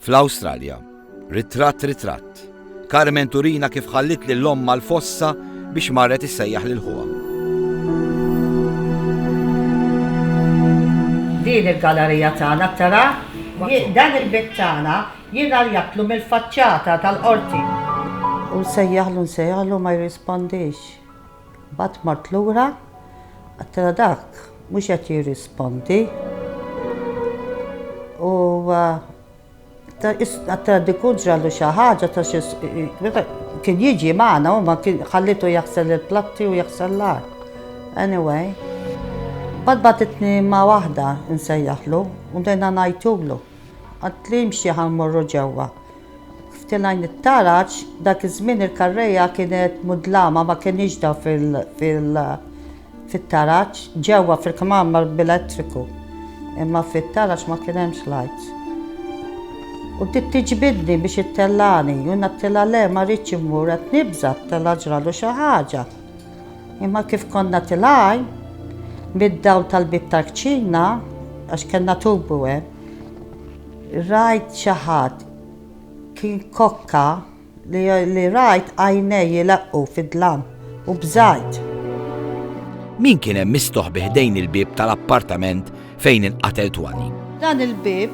Fl-Awstralja, ritratt ritratt, Carmen turina kif ħallit lil l-omm mal-fossa biex marret issejjaħ lil ħuha. Din il-gallerija tagħna tara dan il-bit tagħna jingħaljatlu mill-faċċata tal-qorti. U nsejjaħlu nsejjaħlu ma jirrispondix. Mbagħad mort lura, għedtilha dak mhux qed jirrispondi u għedtilha dik hu ġrallu xi ħaġa ta' xi kien jiġi magħna u ma kien ħallitu jaħsel il-platti u jaħsel l-art. Anyway, mbagħad bagħtitni ma' waħda nsejjaħlu u bdejna ngħajtulu. Għedtli imxi ħa mmorru ġewwa. F'tilgħin it-taraġ, dak iż-żmien il-karrejja kienet mudlama ma kenniex dawl fit-taraġ, ġewwa fil-kmamar mar b'elettriku, imma fit-taraġ ma kien hemmx lights. U bdiet tiġbidni biex ittellagħni u jiena għedtilha le ma rridx immur qed nibża' t-tellgħa ġralu xi ħaġa. Imma kif konna tilgħin, mid-dawl tal-bieb tal-kċina, għax kellna tubu hemm, Rajt xi ħadd, kien kokka, li rajt għajnejh jileqqu fid-dlam u bżajt. Min kien hemm mistoħbi ħdejn il-bieb tal-appartament fejn inqatel Twani? Dan il-bieb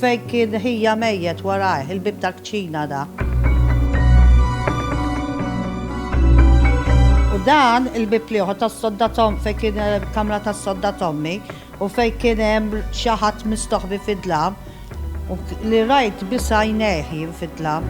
fejn kien ħija mejjet warajh, il-bieb tal-kċina da. U dan il-bieb liħor tas-sodda Tom fejn kien kamra tas-sodda Tommy, U fejn kien hemm xi ħadd mistoħbi fid-dlam, u li rajt biss għajnejh jien fid-dlam.